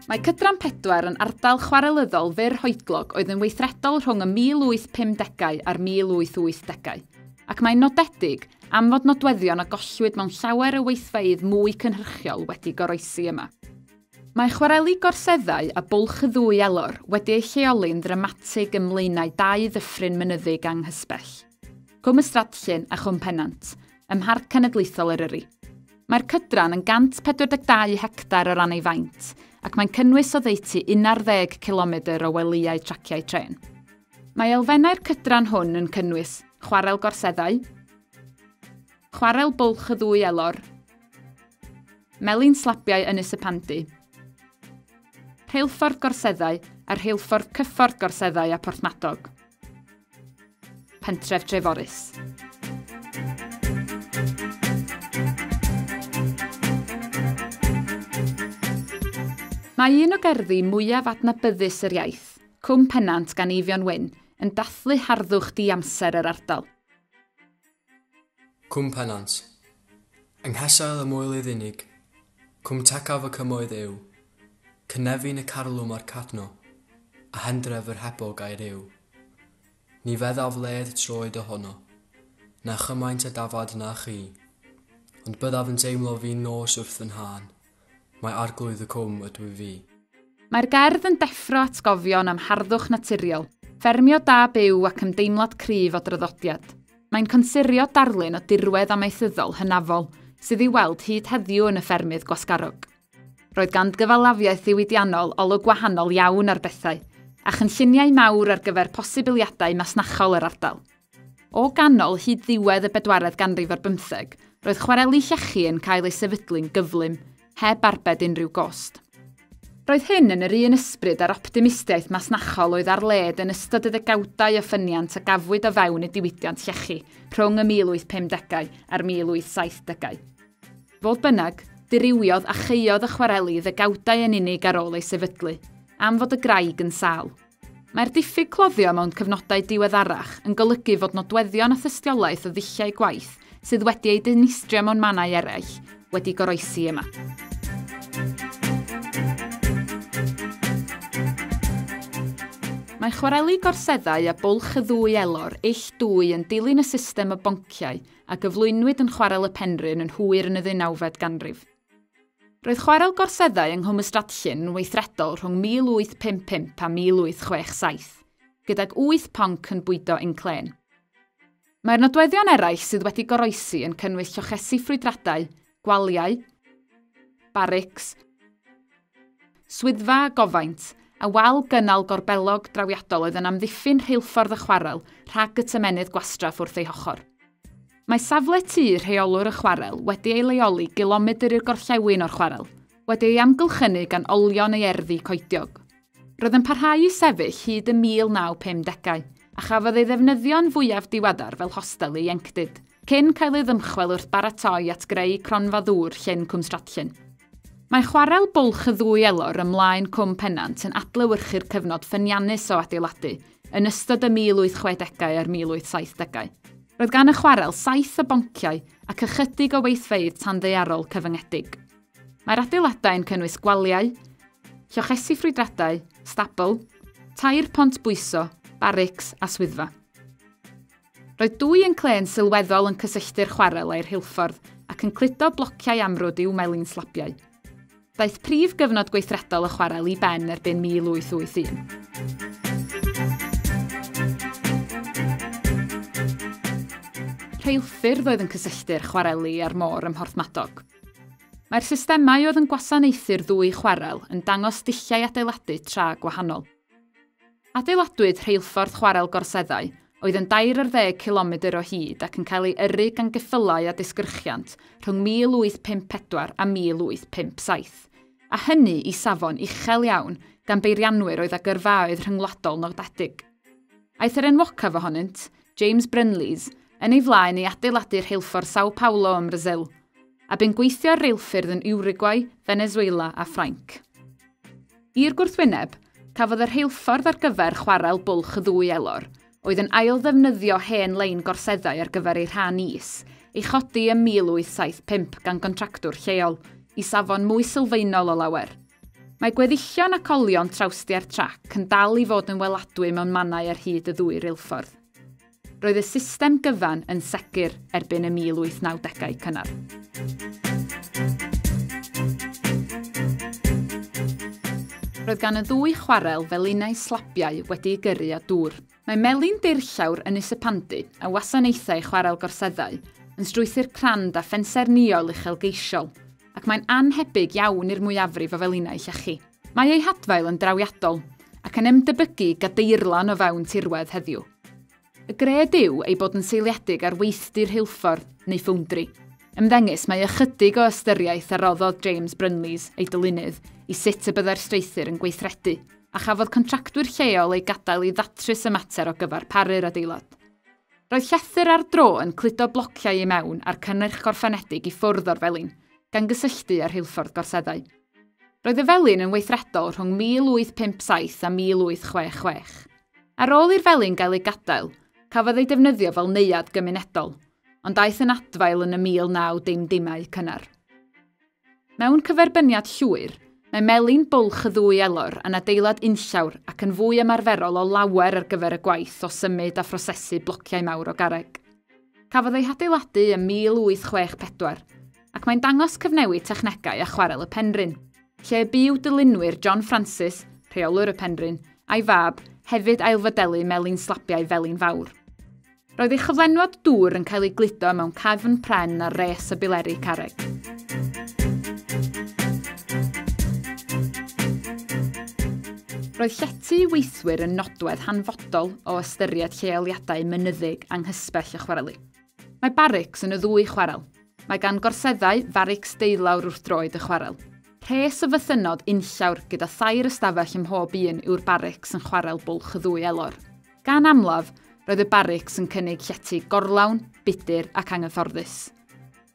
Mae Cydran Pedwar yn ardal chwarelyddol fyr hoedlog oedd yn weithredol rhwng y 1850au a'r 1880au, ac mae'n nodedig am fod nodweddion a gollwyd mewn llawer o weithfeydd mwy cynhyrchiol wedi goroesi yma. Mae chwareli gorseddau a bwlch y ddwy elor wedi eu lleoli'n ddramatig ym mlaenau dau ddyffryn mynyddig anghysbell, Cwm y Stradllyn a Chwm Pennant, ym Mharc Cenedlaethol Eryri. Mae'r cydran yn 142 hectar o ran ei faint, ac mae'n cynnwys oddeutu 11 cilomedr o welïau traciau trên. Mae elfennau'r cydran hwn yn cynnwys chwarel gorseddau, chwarel bwlch y ddwy elor, melin slabiau ynys y pandy, rheilffordd gorseddau a rheilffordd cyffordd gorseddau a Porthmadog, pentref Dreforys. Mae un o gerddi mwyaf adnabyddus yr iaith, Cwm Pennant gan Eifion Wyn yn dathlu harddwch di-amser yr ardal. Cwm Pennant. Yng nghesail y Moelydd Unig, Cwm Tecaf y Cymoedd yw, Cynefin y Carlwm a'r Cadno, a Hendref yr Hebog a'i rhyw. Ni feddaf led troed o hono, na chymaint a dafad na chi, ond byddaf yn teimlo fin nos wrth fy nhân. Mae Arglwydd y Cwm ydw i fi. Mae'r gerdd yn deffro atgofion am harddwch naturiol, ffermio da byw ac ymdeimlad cryf o draddodiad. Mae'n consirio darlun o dirwedd amaethyddol hynafol sydd i'w weld hyd heddiw yn y ffermydd gwasgarog. Roedd ganddo gyfalafiaeth ddiwydiannol olwg wahanol iawn ar bethau, a chynlluniau mawr ar gyfer posibiliadau masnachol yr ardal. O ganol hyd ddiwedd y bedwaredd ganrif ar bymtheg, roedd chwareli llechi yn cael ei sefydlu'n gyflym, heb arbed unrhyw gost. Roedd hyn yn yr un ysbryd â'r optimistiaeth masnachol oedd ar led yn ystod y ddegawdau o ffyniant a gafwyd o fewn y diwydiant llechi rhwng y 1850au a'r 1870au. Fodd bynnag, dirywiodd a chaeodd y chwareli ddegawdau yn unig ar ôl ei sefydlu, am fod y graig yn sâl. Mae'r diffyg cloddio mewn cyfnodau diweddarach yn golygu fod nodweddion a thystiolaeth o ddulliau gwaith sydd wedi eu dinistrio mewn mannau eraill wedi goroesi yma. Mae chwareli gorseddau a bwlch y ddwy elor ill dwy yn dilyn y system o bonciau a gyflwynwyd yn Chwarel y Penrhyn yn hwyr yn y ddeunawfed ganrif. Roedd chwarel gorseddau yng Nghwm Ystradllyn yn weithredol rhwng 1855 a 1867, gydag wyth ponc yn bwydo inclên. Mae'r nodweddion eraill sydd wedi goroesi yn cynnwys llochesi ffrwydradau, gwaliau, barics, Swyddfa a gofaint, a wal gynnal gorbellog drawiadol oedd yn amddiffyn rheilffordd y chwarel rhag y tymennydd gwastraff wrth ei hochr. Mae safle tŷ rheolwr y chwarel wedi ei leoli gilomedr i'r gorllewin o'r chwarel, wedi ei amgylchynu gan olion ei erddi coediog. Roedd yn parhau i sefyll hyd y 1950au, a chafodd ei ddefnyddio'n fwyaf diweddar fel hostel ieuenctid. cyn cael ei ddymchwel wrth baratoi at greu cronfa ddŵr Llyn Cwmstradllyn. Mae chwarel bwlch y ddwy elor ymlaen Cwm Pennant yn adlewyrchu'r cyfnod ffyniannus o adeiladu yn ystod y 1860au a'r 1870au. Roedd gan y chwarel saith o bonciau ac ychydig o weithfeydd tanddaearol cyfyngedig. Mae'r adeiladau yn cynnwys gwaliau, llochesi ffrwydradau, stabl, tair pont bwyso, barics a swyddfa. Roedd dwy yn clên sylweddol yn cysylltu'r chwarel â'i rheilffordd ac yn cludo blociau amrwd i'w melin slabiau. Daeth prif gyfnod gweithredol y chwarel i ben erbyn 1881. Rheilffyrdd oedd yn cysylltu'r chwareli a'r môr ym Mhorthmadog. Mae'r systemau oedd yn gwasanaethu'r ddwy chwarel yn dangos dulliau adeiladu tra gwahanol. Adeiladwyd rheilffordd chwarel Gorseddau, oedd yn dair ar ddeg cilomedr o hyd ac yn cael ei yrru gan geffylau a disgyrchiant rhwng 1854 a 1857, a hynny i safon uchel iawn gan beirianwyr oedd â gyrfaoedd rhyngwladol nodedig. Aeth yr enwocaf ohonynt, James Brynlees, yn ei flaen i adeiladu rheilffordd Sao Paulo ym Mrasil, a bu'n gweithio ar reilffyrdd yn Uruguay, Venezuela a Ffrainc. I'r gwrthwyneb, cafodd y rheilffordd ar gyfer chwarel bwlch y ddwy elor, oedd yn ail-ddefnyddio hen lein gorseddau ar gyfer eu rhan is, ei chodi ym 1875 gan gontractwr lleol, i safon mwy sylfaenol o lawer. Mae gweddillion ac olion trawstiau'r trac yn dal i fod yn weladwy mewn mannau ar hyd y ddwy reilffordd. Roedd y system gyfan yn segur erbyn y 1890au cynnar. Roedd gan y ddwy chwarel felinau slabiau wedi'u gyrru â dŵr. Mae melin deirllawr yn Isepandu a wasanaethau chwarel gorseddau yn strwythur crand a phensaernïol uchelgeisiol, ac mae'n annhebyg iawn i'r mwyafrif o felinau llechi. Mae ei hadfail yn drawiadol, ac yn ymdebygu i gadeirlan o fewn tirwedd heddiw. Y gred yw ei bod yn seiliedig ar weithdy rheilffordd neu ffowndri. Ymddengys mae ychydig o ystyriaeth a roddodd James Brynlees, ei dylunydd, i sut y byddai'r streuthur yn gweithredu, a chafodd contractwyr lleol eu gadael i ddatrys y mater o gyfer paru'r adeilad. Roedd llethr ar dro yn cludo blociau i mewn a'r cynnyrch gorffenedig i ffwrdd o'r felin, gan gysylltu â rheilffordd gorseddau. Roedd y felin yn weithredol rhwng 1857 a 1866. Ar ôl i'r felin gael ei gadael, cafodd ei defnyddio fel neuadd gymunedol, ond aeth yn adfail yn y 1960au cynnar. Mewn cyferbyniad llwyr, mae melin bwlch y ddwy elor yn adeilad unllawr ac yn fwy ymarferol o lawer ar gyfer y gwaith o symud a phrosesu blociau mawr o garreg. Cafodd ei hadeiladu ym 1864. ac mae'n dangos cyfnewid technegau a chwarel y Penrhyn, lle y byw dylunwyr John Francis, rheolwr y Penrhyn, a'i fab, hefyd ailfodelu melin slabiau Felin Fawr. Roedd ei chyflenwad dŵr yn cael ei gludo mewn cefn pren ar res y bileri carreg. Roedd llety weithwyr yn nodwedd hanfodol o ystyried lleoliadau mynyddig anghysbell y chwareli. Mae barics yn y ddwy chwarel. Mae gan gorseddau farics deulawr wrth droed y chwarel. Rhes o fythynnod unllawr gyda thair ystafell ym mhob un yw'r barics yn chwarel bwlch y ddwy elor. Gan amlaf, roedd y barics yn cynnig llety gorlawn, budr ac anghyfforddus.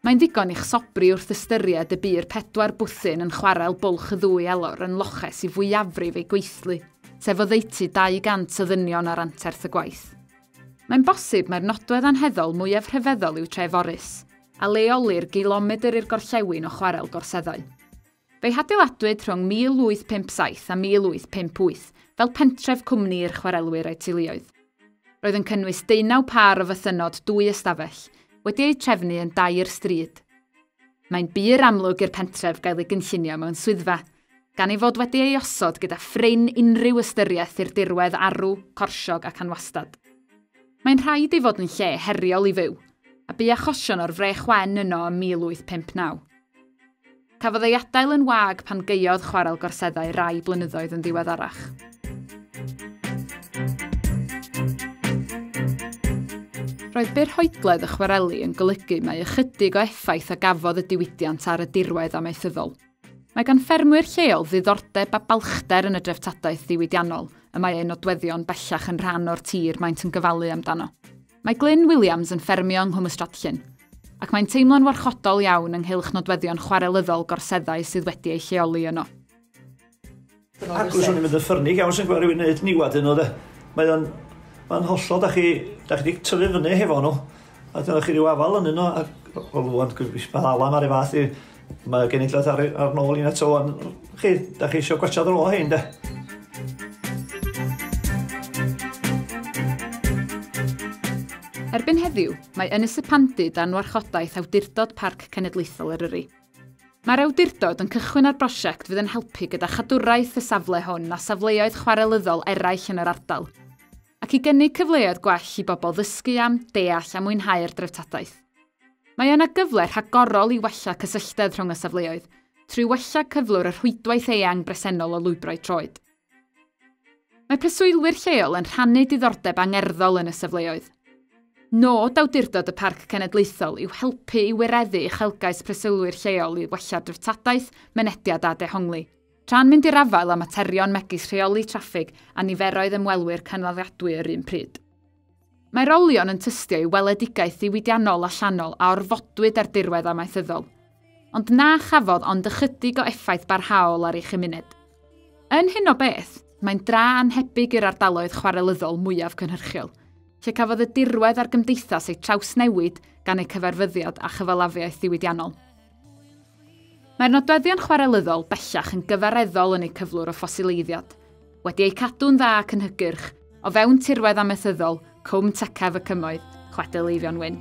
Mae'n ddigon i'ch sobri wrth ystyried y bu'r pedwar bwthyn yn chwarel bwlch y ddwy elor yn loches i fwyafrif eu gweithlu, sef oddeutu 200 o ddynion ar anterth y gwaith. Mae'n bosib mai'r nodwedd anheddol mwyaf rhyfeddol yw Treforys, a leolir gilomedr i'r gorllewin o Chwarel Gorseddau. Fe'i hadeiladwyd rhwng 1857 a 1858 fel pentref cwmni i'r chwarelwyr a'u teuluoedd. Roedd yn cynnwys deunaw pâr o fythynnod dwy ystafell, wedi eu trefnu yn dair stryd. Mae'n bur amlwg i'r pentref gael ei gynllunio mewn swyddfa, gan ei fod wedi ei osod gyda phrin unrhyw ystyriaeth i'r dirwedd arw, corsiog ac anwastad. Mae'n rhaid ei fod yn lle heriol i fyw, a bu achosion o'r frech wen yno ym 1859. Cafodd ei adael yn wag pan gaeodd chwarel gorseddau rai blynyddoedd yn ddiweddarach. Roedd byrhoedledd y chwareli yn golygu mai ychydig o effaith a gafodd y diwydiant ar y dirwedd amaethyddol. Mae gan ffermwyr lleol ddiddordeb a balchder yn y dreftadaeth ddiwydiannol y mae eu nodweddion bellach yn rhan o'r tir maent yn gyfalu amdano. Mae Glyn Williams yn ffermio yng Nghwm Ystradllyn, ac mae'n teimlo'n warchodol iawn ynghylch nodweddion chwarelyddol gorseddau sydd wedi eu lleoli yno. Ac os o'n i'n mynd yn ffyrnig iawn sy'n gweld rhywun wneud niwad yn nhw de. Mae o'n... Mae'n hollol, da chi, da chi wedi tyfu fyny hefo nhw. A dyna chi rhyw afal yn yno, ac o lwan, mae Alan ar ei fath i, mae genedlaeth ar, ar nôl i'n eto o'n... Chi, da chi eisiau gwaetha ddro hyn de. Erbyn heddiw, mae Ynys y Pandy dan warchodaeth Awdurdod Parc Cenedlaethol Eryri. Mae'r awdurdod yn cychwyn ar brosiect fydd yn helpu gyda chadwraeth y safle hwn a safleoedd chwarelyddol eraill yn yr ardal, ac i gynnig cyfleoedd gwell i bobl ddysgu am, deall a mwynhau'r dreftadaeth. Mae yna gyfle rhagorol i wella cysylltedd rhwng y safleoedd, trwy wella cyflwr y rhwydwaith eang bresennol o lwybrau troed. Mae preswylwyr lleol yn rhannu diddordeb angerddol yn y safleoedd. Nod Awdurdod y Parc Cenedlaethol yw helpu i wireddu uchelgais preswylwyr lleol i wella dreftadaeth, mynediad a dehongli, tra'n mynd i'r afael â materion megis rheoli traffig a niferoedd ymwelwyr cynaliadwy yr un pryd. Mae'r olion yn tystio i weledigaeth ddiwydiannol allanol a orfodwyd ar dirwedd amaethyddol, ond na chafodd ond ychydig o effaith barhaol ar ei chymuned. Yn hyn o beth, mae'n dra anhebyg i'r ardaloedd chwarelyddol mwyaf cynhyrchiol, lle cafodd y dirwedd a'r gymdeithas eu trawsnewid gan eu cyfarfyddiad a chyfalafiaeth ddiwydiannol. Mae'r nodweddion chwarelyddol bellach yn gyfareddol yn eu cyflwr o ffosileiddiad, wedi eu cadw'n dda ac yn hygyrch, o fewn tirwedd amaethyddol Cwm Tecaf y Cymoedd, Chwedl Eifion Wyn.